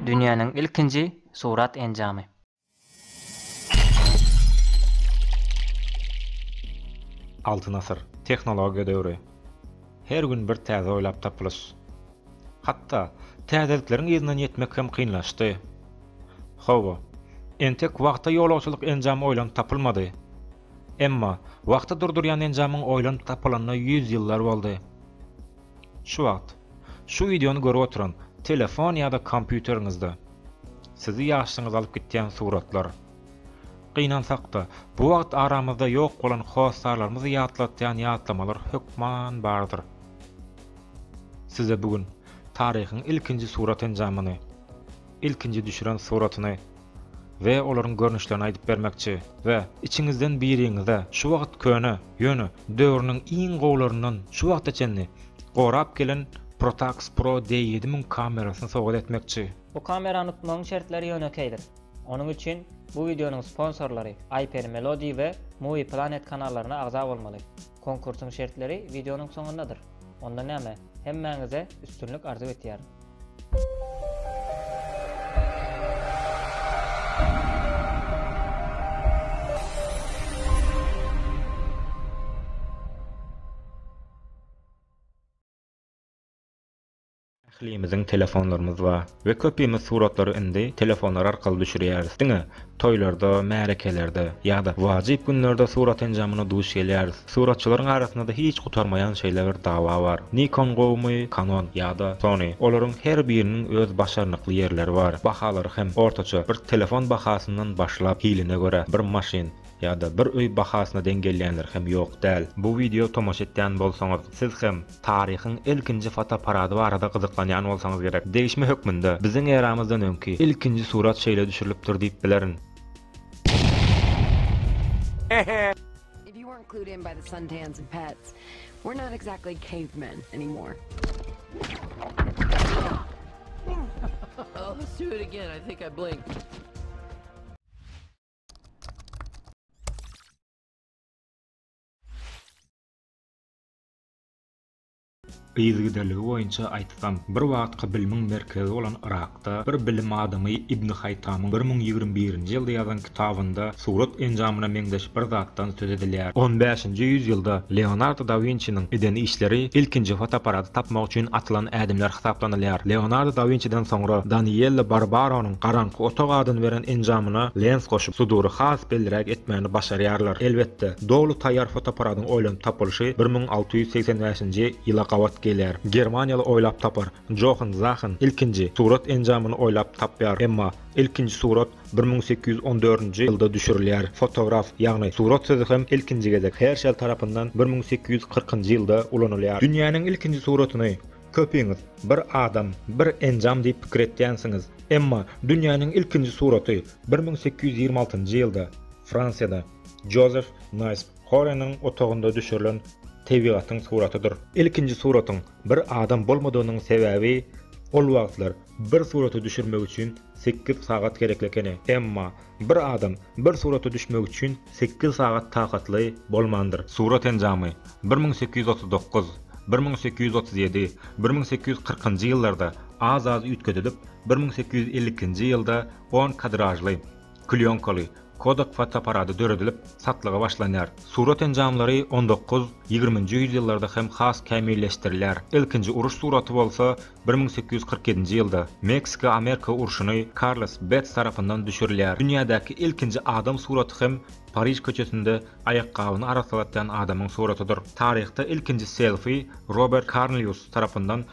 Dünýäniň ilkinji surat enjamy. Altyn asyr, tehnologiýa döwri. Her gün bir täze oýlap tapylyş. Hatda, täzelikleriň yzyna ýetmek hem kynlaşdy. Hawa, entek wagta ýolagçylyk enjamy oýlanyp tapylmady. Emma, wagty durdurýan enjamyň oýlanyp tapylanyna ýüz ýyllar boldy. Şu wagt, şu wideony görüp oturan telefon ýa-da kompýuteriňizde sizi ýaşlygyňyza alyp gitýän suratlar. Gynansak-da, bu wagt aramyzda ýok bolan hossarlarymyzy ýatlatýan ýatlamalar hökman bardyr. Size bu gün taryhyň ilkinji surat enjamyny, ilkinji düşüren suratyny we olaryň görnüşlerini aýdyp bermekçi we içiňizden biriňize şu wagt köne, ýöne döwrüniň iň gowularyndan şu wagta çenli gorap gelen Protax Pro D7000 kamerasyny sowgat etmekçi. Bu kamerany utmagyň şertleri ýönekeýdir. Onuň üçin bu wideonyň sponsorlary Iper Melody we Movie Planet kanallaryna agza bolmaly. Konkursyň şertleri wideonyň soňundadyr. Onda näme, hemmäňize üstünlik arzuw etýärin. Ählimiziň telefonlarymyz bar we köpimiz suratlary indi telefonlar arkaly düşürýäris. Diňe toýlarda, märekelerde ýa-da wajyp günlerde surat enjamyna duş gelýäris. Suratçylaryň arasynda-da hiç gutarmaýan şeýle bir dawa bar. Nikon gowumy, Canon ýa-da Sony? Olaryň her biriniň öz başarnykly ýerleri bar. Bahalary hem ortaça, bir telefon bahasyndan başlap, hiline görä, bir maşyn ýa-da bir öý bahasyna deň gelýänler hem ýok däl. Bu wideo tomaşa etýän bolsaňyz, siz hem. Taryhyň ilkinji fotoapparady barada gyzyklanýan bolsaňyz gerek, degişme hökmünde, biziň eramyzdan öňki ilkinji surat şeýle düşürilipdir diýip bilerin. If you weren't clued in by the suntans and pets, we're not exactly cavemen anymore. Let's do it again, I think I blinked. Yzgidiligi boýunça aýtsam, bir wagtky bilimiň merkezi bolan Yrakda bir bilim adamy Ibn Haýtamyň bir müň ýigrimi birinji ýylda ýazan kitabynda surat enjamyna meňzeş bir zatdan söz edilýär. On bäşinji ýüzýylda Leonardo da Winçiniň eden işleri ilkinji fotoapparady tapmak üçin atylan ädimler hasaplanylýar. Leonardo da Winçiden soňra Danielle Barbaronyň garaňky otag adyny beren enjamyna lens goşup, sudury has belliräk etmäni başarýarlar. Elbetde. Doly taýýar fotoapparatyň oýlanyp tapylyşy bir müň alty ýüz segsen bäşinji ýyla gabat gelýär. Germaniýaly oýlap tapar Johan Zahen ilkinji surat enjamyny oýlap tapýar, emma ilkinji surat bir müň sekiz ýüz on dördünji ýylda düşürilýär. Fotograf, ýagny surat sözi hem ilkinji gezek Herşel tarapyndan bir müň sekiz ýüz kyrkynjy ýylda ulanylýar. Dünýäniň ilkinji suratyny köpiňiz bir adam, bir enjam diýip pikir etýänsiňiz, emma dünýäniň ilkinji suraty bir müň sekiz ýüz ýigrimi altynjy ýylda Fransiýada, Jozef Naýsp Horeniň otagynda düşürilen tebigatyň suratydyr. Ilkinji suratyň bir adam bolmadygynyň sebäbi, ol wagtlar bir suraty düşürmek üçin sekiz sagat gerekli ekeni. Emma, bir adam bir surata düşmek üçin sekiz sagat takatly bolmandyr. Surat enjamy bir müň sekiz ýüz otuz dokuz, bir müň sekiz ýüz otuz ýedi, bir müň sekiz ýüz kyrkynjy ýyllarda az-az üýtgedilip, bir müň sekiz ýüz elli ikinji ýylda on kadražly, Klýonkaly, Kodak fotoapparady döredilip, satlyga başlanýar. Surat enjamlary on dokuz, ýigriminji ýüzýyllarda hem has kämilleşdirilýär. Ilkinji uruş suraty bolsa bir müň sekiz ýüz kyrk ýedinji ýylda, Meksika-Amerika urşuny, Karlos Bets tarapyndan düşürilýär. Dünýädäki ilkinji adam suraty hem Pariž köçesinde aýakgabyny arassalatýan adamyň suratydyr. Taryhda ilkinji selfi Robert Karnlýus tarapyndan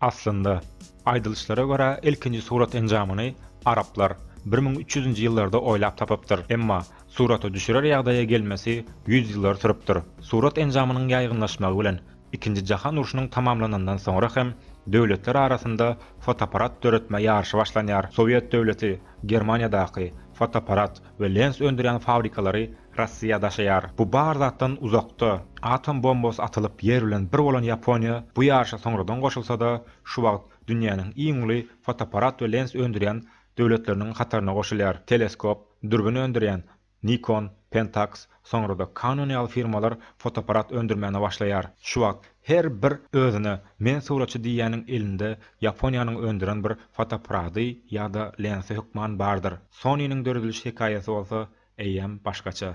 Aslynda, aýdylyşlara görä, ilkinji surat enjamyny araplar bir müň üç ýüzünji ýyllarda oýlap tapypdyr, emma surata düşürer ýagdaýa gelmesi ýüz ýyllar sürüpdir. Surat enjamynyň ýaýgynlaşmagy bilen Ikinji jahan urşunyň tamamlanandan soňra hem döwletler arasynda fotoapparat döretme ýaryşy başlanýar. Sowet döwleti Germaniýadaky fotoapparat we lens öndürýän fabrikalary Russiýa daşaýar. Bu bar zatdan uzakda, atom bombasy atylyp ýer bilen bir bolan Ýaponiýa bu ýaryşa soňradan goşulsa-da, şu wagt dünýäniň iň uly fotoapparat we lens öndürýän döwletleriniň hataryna goşulýar. Teleskop, dürbin öndürýän Nikon, Pentax, soňra-da Canon ýaly firmalar fotoapparat öndürmäne başlaýar. Şu wagt her bir özüne men suratçy diýýäniň elinde Ýaponiýanyň öndüren bir fotoapparady ýa-da lensi hökman bardyr. Sony-niň dörediliş hekaýasy bolsa eýýäm başgaça.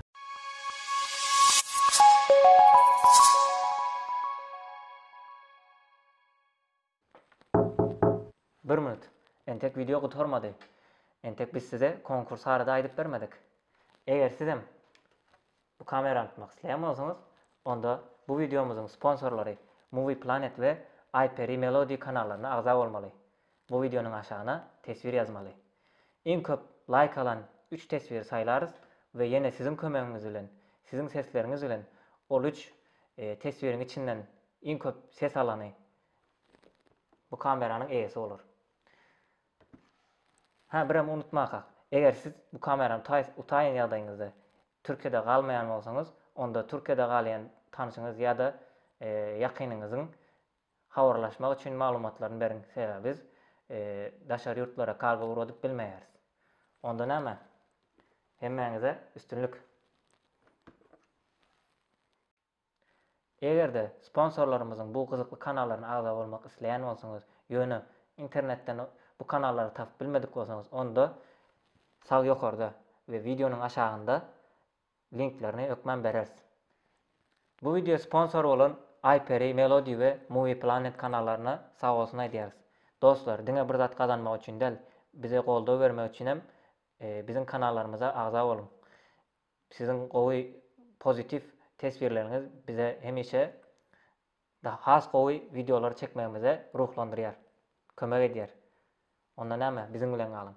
Bir minut. Entek wideo gutarmady. Entek biz size konkurs barada aýdyp bermedik. Eger sizem bu kamerany tutmak isleýän bolsaňyz, onda bu wideomyzyň sponsorlary Movie Planet we Aýperi Melody kanallaryna agza bolmaly. Bu wideonyň aşagyna teswir ýazmaly. Iň köp laýk alan üç teswiri saýlarys we ýene siziň kömegiňiz bilen, siziň sesleriňiz bilen ol üç teswiriň içinden iň köp ses alany bu kameranyň eýesi bolar. Hä birem unutmakak, eger siz bu kamerany utaýan ýagdaýyňyzda Türkiýede galmaýan bolsaňyz, onda Türkiýede galýan tanşyňyz ýa-da ýakynyňyzyň Habarlaşmak üçin maglumatlaryny beriň sebäbi biz daşary ýurtlara kargo ugradyp bilmeýäris. Onda näme? Hemmäňize üstünlik! Egerde sponsorlarymyzyň bu gyzykly kanallaryna agza bolmak isleýän bolsaňyz, ýöne internetden bu kanallary tapyp bilmedik bolsaňyz onda sag ýokarda we wideonyň aşagynda Linklerini hökman bereris. Bu wideo sponsor bolan iPerry, Melody we Movie Planet kanallaryna sag bolsun aýdýarys. Dostlar, diňe bir zat gazanmak üçin däl, bize goldaw bermek üçin hem biziň kanallarymyza agza boluň. Siziň gowy pozitiw teswirleriňiz bize hemişe has gowy wideolary çekmegimize ruhlandyrýar, kömek edýär. Onda näme, biziň bilen galyň.